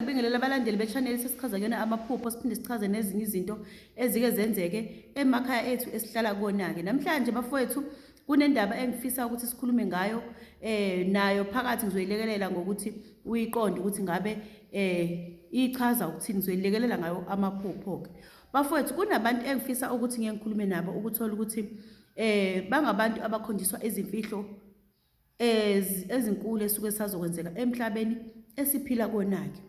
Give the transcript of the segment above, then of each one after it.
Sibingelela abalandeli bechaneli sesichaza kuyona amaphupho siphinde sichaze nezinye izinto ezike zenzeke emakhaya ethu esihlala kona-ke namhlanje bafowethu kunendaba engifisa ukuthi sikhulume ngayo eh nayo phakathi ngizoyilekelela ngokuthi uyiqonde ukuthi ngabe eh ichaza ukuthini ngizoyilekelela ngayo amaphupho-ke bafowethu kunabantu engifisa ukuthi ngeke ngikhulume nabo ukuthola ukuthi eh bangabantu abakhonjiswa izimfihlo ezinkulu esuke sazokwenzeka emhlabeni esiphila konake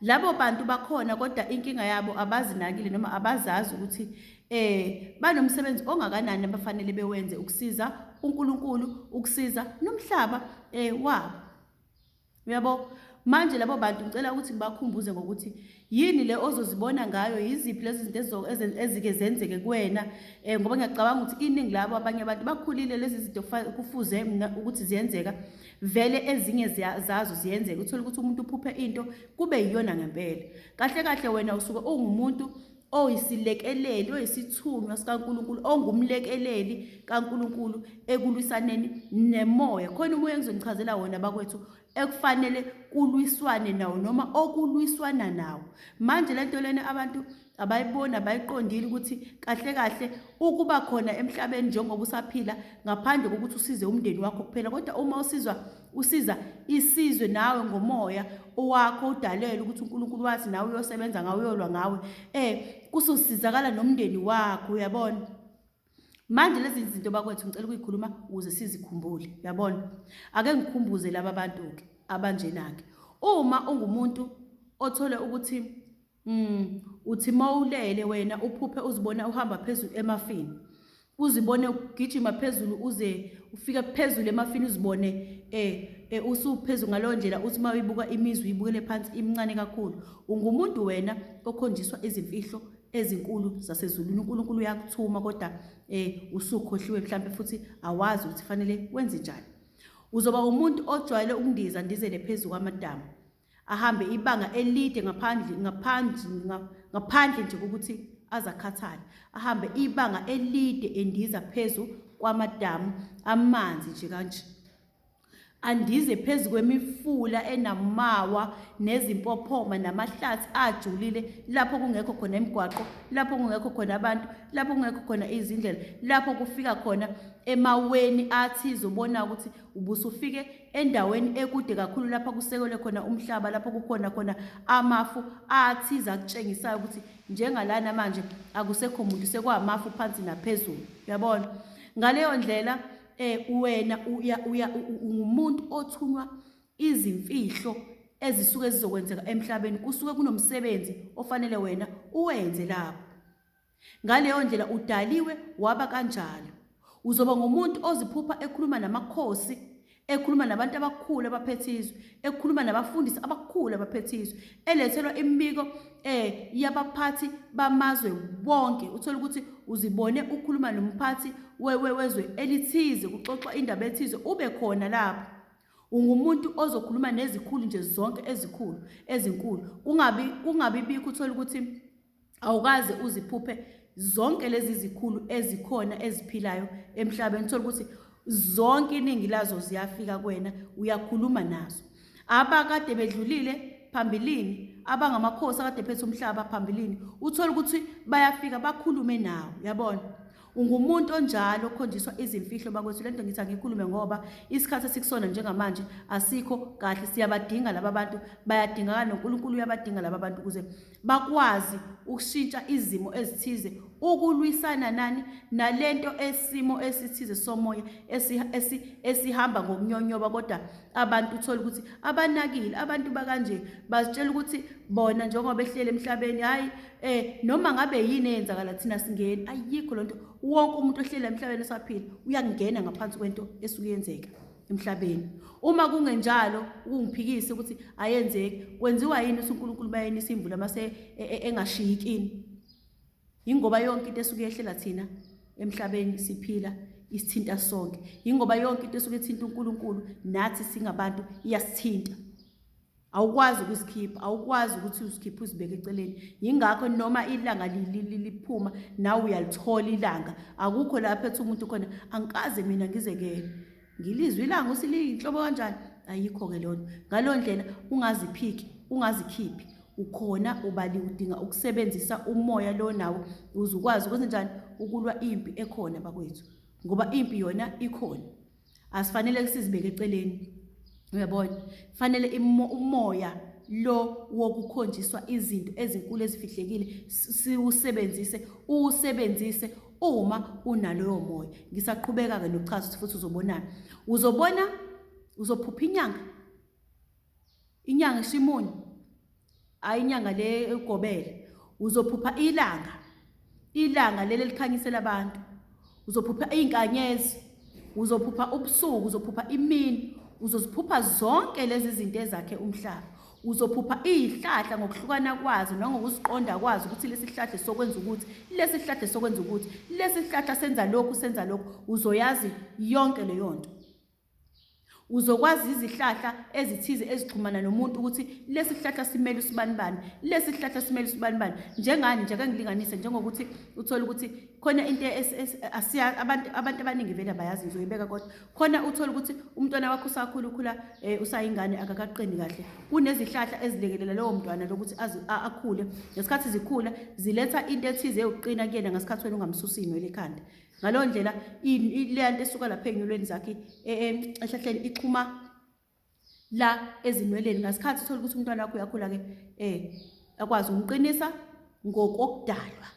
labo bantu bakhona kodwa inkinga yabo abazinakile noma abazazi ukuthi eh banomsebenzi ongakanani abafanele bewenze ukusiza uNkulunkulu ukusiza nomhlaba eh wabo Uyabo? Manje labo bantu ngicela ukuthi ngibakhumbuze ngokuthi yini le ozozibona ngayo, yiziphi lezi zinto ezike zenzeke kuwena um ngoba ngiyacabanga ukuthi iningi labo abanye abantu bakhulile lezi zinto kufuze mna ukuthi ziyenzeka vele ezinye zazo ziyenzeka uthole ukuthi umuntu uphuphe into kube yiyona ngempela kahle kahle wena usuke ungumuntu oyisilekeleli, oyisithunywa sikaNkulunkulu, ongumlekeleli kaNkulunkulu ekulwisaneni nemoya. Khona umoya engizonichazela wona bakwethu ekufanele kulwiswane nawo noma okulwiswana nawo. Manje lento lena abantu abayiboni abayiqondile ukuthi kahle kahle ukuba khona emhlabeni njengoba usaphila ngaphandle kokuthi usize umndeni wakho kuphela kodwa uma usizwa Usiza isizwe nawe ngomoya owakho udalelwe ukuthi uNkulunkulu wathi nawe uyosebenza ngawe uyolwa ngawe eh kusosizakala nomndeni wakho uyabona manje lezi zinto bakwethu ngicela ukuyikhuluma ukuze sizikhumbule uyabona ake ngikhumbuze laba bantu ke abanjena ke uma ungumuntu othole ukuthi Mm, uthi mawulele wena uphuphe uzibona uhamba phezulu emafini. Uzibone ugijima phezulu uze ufike phezulu emafini uzibone eh e, usuphezulu ngaleyo ndlela uthi uma uyibuka imizwa uyibukele phansi imncane kakhulu. Ungumuntu wena okhonjiswa izimfihlo ezinkulu zasezulwini. UNkulunkulu uyakuthuma kodwa eh usukhohliwe mhlambe futhi awazi ukuthi fanele wenze njani. Uzoba umuntu ojwayele ukundiza ndizele phezulu kwamadama. ahambe ibanga elide ngaphandle ngaphandle ngaphandle nje kokuthi azakhathale ahambe ibanga elide endiza phezu kwamadamu amanzi nje kanje andize phezu kwemifula enamawa nezimpophoma namahlathi ajulile lapho kungekho khona imigwaqo lapho kungekho khona abantu lapho kungekho khona izindlela lapho kufika khona emaweni athi izobona ukuthi ubusufike endaweni ekude kakhulu lapha kusekelwe khona umhlaba lapho kukhona khona amafu athize akutshengisayo ukuthi njengalana manje akusekho muntu sekwamafu phansi naphezulu uyabona ngaleyo ndlela eh wena ungumuntu othunywa izimfihlo ezisuke zizokwenzeka emhlabeni kusuke kunomsebenzi ofanele wena uwenze lapho Ngaleyo ndlela udaliwe waba kanjalo. Uzoba ngumuntu oziphupha ekhuluma namakhosi, ekhuluma nabantu abakhulu abaphethe izwe, ekhuluma nabafundisi abakhulu abaphethe izwe, elethelwa imibiko eh yabaphathi bamazwe bonke. Uthola ukuthi uzibone ukhuluma nomphathi wezwe elithize kuxoxwa indaba ethize ube khona lapho. Ungumuntu ozokhuluma nezikhulu nje zonke ezikhulu ezinkulu. Kungabi kungabi bikho uthola ukuthi awukaze uziphuphe zonke lezi zikhulu ezikhona eziphilayo emhlabeni thola ukuthi zonke iningi lazo ziyafika kwena uyakhuluma nazo abakade bedlulile phambilini abangamakhosi akade phethe umhlaba phambilini uthola ukuthi bayafika bakhulume nawo yabona ungumuntu onjalo okhonjiswa izimfihlo bakwethu lento ngithi angikhulume ngoba isikhathi esikusona njengamanje asikho kahle siyabadinga laba bantu bayadingakala noNkulunkulu uyabadinga laba bantu ukuze bakwazi ukushintsha izimo ezithize ukulwisana nani nalento esimo esithize somoya esi, esi, esihamba ngokunyonyoba kodwa abantu uthola ukuthi abanakile abantu bakanje bazitshela ukuthi bona njengoba behlele emhlabeni hayi eh noma ngabe yini eyenzakala thina singeni ayikho lonto wonke umuntu ohlela emhlabeni esaphila uyakungena ngaphansi kwento esukuyenzeka emhlabeni uma kungenjalo ukungiphikisa ukuthi ayenzeki kwenziwa yini ukuthi uNkulunkulu bayeni isimvula mase e, e, engashiyi kini ingoba yonke into esuke yehlela thina emhlabeni siphila isithinta sonke ingoba yonke into esuke ithinta uNkulunkulu nathi singabantu iyasithinta awukwazi ukusikhipha awukwazi ukuthi usikhiphe usibeke eceleni yingakho noma ilanga liphuma nawe uyalithola ilanga akukho lapho ethi umuntu khona angikaze mina ngizekele ngilizwe ilanga ukuthi liyinhlobo kanjani ayikho-ke lona ngaleyo ndlela ungaziphiki ungazikhiphi ukhona ubali udinga ukusebenzisa umoya lo nawo uze ukwazi ukuthi njani ukulwa impi ekhona bakwethu ngoba impi yona ikhona asifanele kusizibeke eceleni uyabona fanele umoya lo wokukhonjiswa izinto ezinkulu ezifihlekile siwusebenzise uwusebenzise uma unaloyo moya ngisaqhubeka-ke nokuchaza ukuthi futhi uzobonani uzobona uzophupha inyanga inyanga ishimoni Hayi inyanga le ugobele uzophupha ilanga ilanga leli elikhanyisela abantu uzophupha iy'nkanyezi uzophupha ubusuku uzophupha imini uzoziphupha zonke lezi zinto ezakhe umhlaba uzophupha izihlahla ngokuhlukana kwazo nangokuziqonda kwazo ukuthi lesi sihlahla sokwenza ukuthi lesi sihlahla sokwenza ukuthi lesi sihlahla senza lokhu senza lokhu uzoyazi yonke leyo nto Uzokwazi izihlahla ezithize ezixhumana nomuntu ukuthi lesi sihlahla simele usibanibani, lesi sihlahla simele usibanibani. Njengani nje ake ngilinganise njengokuthi uthole ukuthi khona into abantu abantu abaningi vele abayazi ngizoyibeka kodwa khona uthole ukuthi umntwana wakho usakhula ukhula eh, usayingane akakaqini kahle. Kunezihlahla ezilekelela lowo mntwana lokuthi akhule. Ngesikhathi zikhula ziletha into ethize yokuqina kuyena ngesikhathi wena ungamsusi inwele ekhanda. ngaleyo ndlela leya nto esuka lapha ey'nwelweni zakhe e, e, ehlahleni ixhuma la ezinweleni ngasikhathi uthole ukuthi umntwana wakho uyakhula-ke um akwazi ukumqinisa ngokokudalwa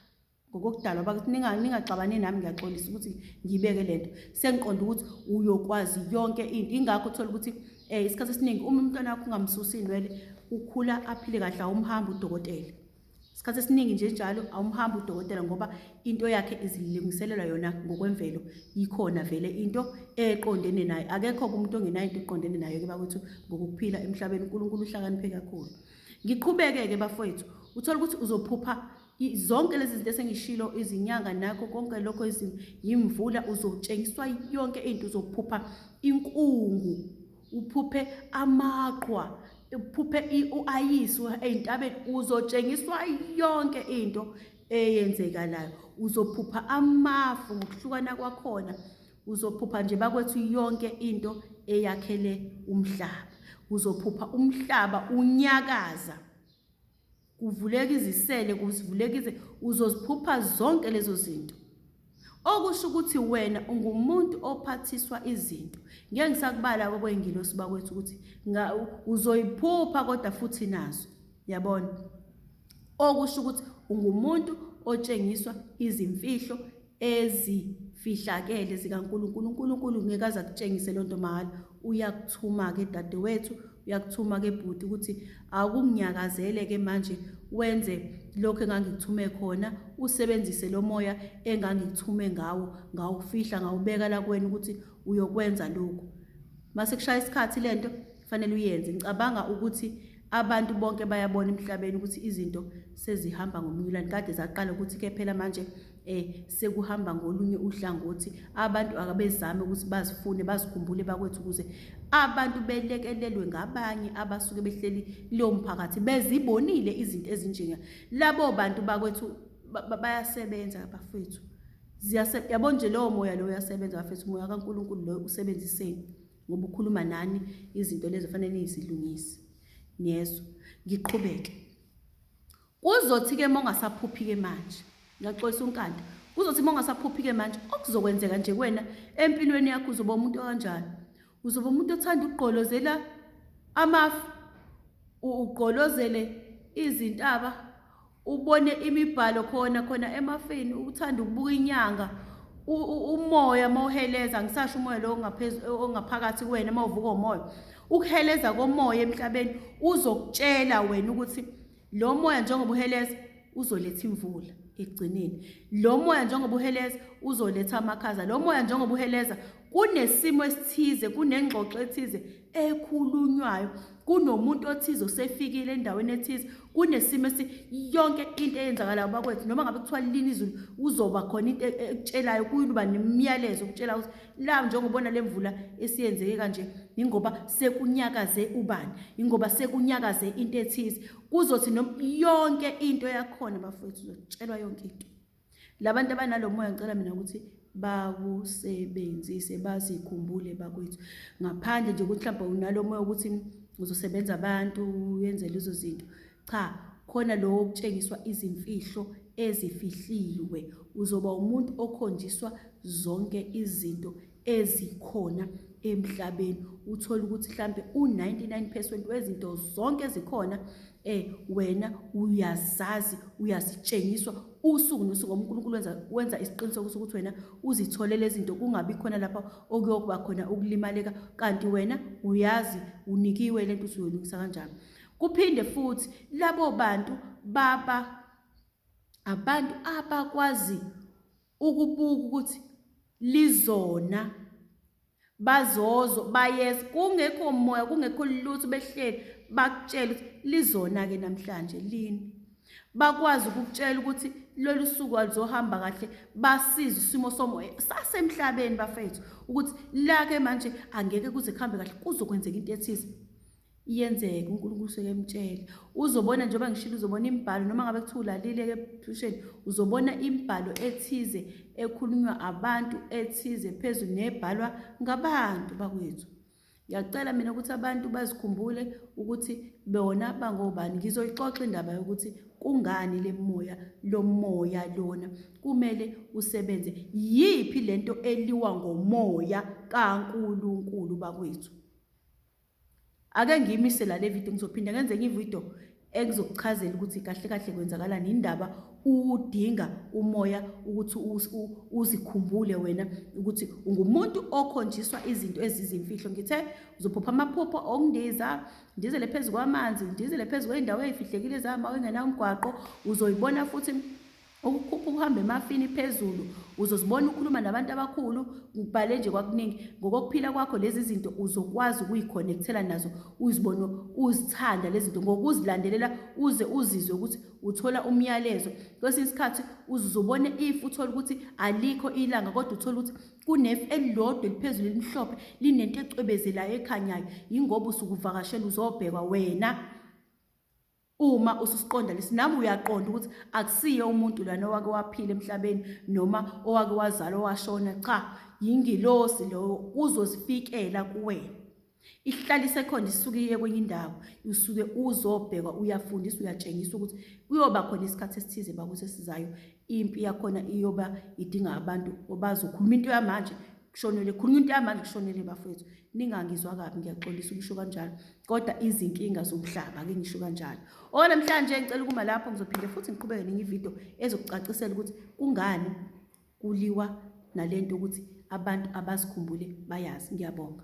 ngokokudalwa bakuthi ningaxabane nami ngiyaxolisa ukuthi ngiyibeke le nto sengiqonda ukuthi uyokwazi yonke into ingakho uthole ukuthi um isikhathi esiningi uma umntwana wakho ungamsusi inwele ukhula aphile kahle awumhambi udokotela isikhathi esiningi nje njalo awumhambi udokotela ngoba into yakhe izilungiselela yona ngokwemvelo yikhona vele into eqondene naye akekho umuntu ongenayo into eqondene nayo ke bakwethu ngokuphila emhlabeni uNkulunkulu uhlakaniphe kakhulu ngiqhubeke ke bafowethu uthola ukuthi uzophupha zonke lezi zinto esengishilo izinyanga nakho konke lokho izimo yimvula uzotshengiswa yonke into uzophupha inkungu uphuphe amaqwa uphuphe uayisi ezintabeni uzotshengiswa yonke into eyenzekalayo uzophupha amafu ngokuhlukana kwakhona uzophupha nje bakwethu yonke into eyakhele umhlaba uzophupha umhlaba unyakaza kuvuleka izisele kuvuleka ize uzoziphupha zonke lezo zinto okusho ukuthi wena ungumuntu ophathiswa izinto ngeke ngisakubala kokwengilosi bakwethu ukuthi uzoyiphupha kodwa futhi nazo yabona okusho ukuthi ungumuntu otshengiswa izimfihlo ezifihlakele zikaNkulunkulu. UNkulunkulu ngeke aze akutshengise loo nto mahhala. Uyakuthuma-ke dadewethu, uyakuthuma-ke bhuti ukuthi awukunginyakazele-ke manje wenze lokhu engangikuthume khona, usebenzise lo moya engangikuthume ngawo, ngawufihla ngawubeka la kuwena ukuthi uyokwenza lokhu. Uma sekushaya isikhathi le nto kufanele uyenze. Ngicabanga ukuthi Abantu bonke bayabona emhlabeni ukuthi izinto sezihamba ngomnyulane kade zaqala ukuthi ke phela manje eh sekuhamba ngolunye uhlangothi abantu akabezame ukuthi bazifune bazikhumbule bakwethu ukuze abantu belekelelwe ngabanye abasuke behleli kuleyo mphakathi bezibonile izinto ezinjenga labo bantu bakwethu bayasebenza bafethu ziyase yabona nje lowo moya lowo uyasebenza bafethu umoya kaNkuluNkulu loyo usebenziseni ngoba ukhuluma nani izinto lezo fanele nizilungise niyezwa ngiqhubeke kuzothi-ke uma ungasaphuphi-ke manje ngiyaxolisa unkanda kuzothi uma ungasaphuphi-ke manje okuzokwenzeka nje kuwena empilweni yakho uzoba umuntu okanjani uzoba umuntu othanda ukugqolozela amafu ugqolozele izintaba ubone imibhalo khona khona emafini ukuthanda ukubuka inyanga umoya mawuheleza ngisasho umoya lo ongaphakathi kuwena mawuvuka umoya ukuheleza komoya emhlabeni uzokutshela wena ukuthi lo moya njengoba uheleza uzoletha imvula ekugcineni lo moya njengoba uheleza uzoletha amakhaza lo moya njengoba uheleza kunesimo esithize kunengxoxo ethize ekhulunywayo kunomuntu othize osefikile endaweni ethize kunesimo esi yonke into eyenzakalayo bakwethu noma ngabe kuthiwa lini izulu uzoba khona into e-, ekutshelayo kuyuba nemiyalezo okutshela ukuthi la njengobona le mvula esiyenzeke kanje ingoba sekunyakaze ubani ingoba sekunyakaze into ethize kuzothi yonke into yakhona bafowethu uzotshelwa yonke into labantu abanalomoya ngicela mina ukuthi bakusebenzise bazikhumbule bakwethu ngaphandle nje ukuthi mhlawumbe unalomoya ukuthi uzosebenza abantu yenze lezo zinto cha khona lowo okutshengiswa izimfihlo ezifihliwe uzoba umuntu okhonjiswa zonke izinto ezikhona emhlabeni uthole ukuthi mhlambe u99 percent wezinto zonke ezikhona eh wena uyazazi uyazitshengiswa usuku nosuku uNkulunkulu wenza wenza isiqiniseko sokuthi wena uzithole lezinto kungabi khona lapha okuyokuba khona ukulimaleka kanti wena uyazi unikiwe lento usuyoyilungisa kanjani kuphinde futhi labo bantu baba abantu abakwazi ukubuka ukuthi lizona bazozo bayeza kungekho moya kungekho lutho behleli bakutshela ukuthi lizona ke namhlanje lini bakwazi ukukutshela ukuthi lolu suku alizohamba kahle basize isimo somoya sasemhlabeni bafethu ukuthi lake manje angeke kuze kuhambe kahle kuzokwenzeka into ethize iyenzeka uNkulunkulu usuke emtshele uzobona njengoba ngishilo uzobona imibhalo noma ngabe kuthiwa ulalile-ke ebusheni uzobona imibhalo ethize ekhulunywa abantu ethize phezulu nebhalwa ngabantu bakwethu ngiyacela mina ukuthi abantu bazikhumbule ukuthi bona bangobani ngizoyixoxa indaba yokuthi kungani le moya lo moya lona kumele usebenze yiphi lento eliwa ngomoya kaNkulunkulu bakwethu Ake ngiyimise la le video ngizophinde ngenze enye ivideo ekuzokuchazela ukuthi kahle kahle kwenzakalani indaba udinga umoya ukuthi uzikhumbule wena ukuthi ungumuntu okhonjiswa izinto ezizimfihlo ngithe uzophupha amaphupho okundiza ndizele phezu kwamanzi ndizele phezu kwey'ndawo ey'fihlekile zama engenawo umgwaqo uzoyibona futhi Ukukhuphuka uhamba emafini phezulu, uzozibona ukhuluma nabantu abakhulu, ngikubhale nje kwakuningi. Ngokokuphila kwakho lezi zinto uzokwazi ukuyikhonekhthela nazo, uzibone uzithanda lezi zinto ngokuzilandelela uze uzizwe ukuthi uthola umyalezo. Kwesinye isikhathi uze uzobona ifu uthole ukuthi alikho ilanga kodwa uthole ukuthi kunefu elilodwa eliphezulu elimhlophe linento ecwebezelayo ekhanyayo, yingoba usukuvakashela uzobhekwa wena. Uma ususiqonda lesi nawe uyaqonda ukuthi akusiye umuntu lana owake waphila emhlabeni noma owake wazala owashona cha yingilosi lowo uzozifikela kuwena ihlala isekhona isuke iye kwenye indawo usuke uzobhekwa uyafundisa uyatshengisa ukuthi kuyoba khona isikhathi esithize bakusesizayo impi yakhona iyoba idinga abantu obazokhuluma into yamanje kushonele khulunywa into yamanje kushonele bafethu ningangizwa kabi ngiyaxolisa ukusho kanjalo kodwa izinkinga zomhlaba ke ngisho kanjalo okunamhlanje ngicela ukuma lapho ngizophinde futhi ngiqhubeke nenye ividiyo ezokucacisela ukuthi kungani kuliwa nalento ukuthi abantu abazikhumbule bayazi ngiyabonga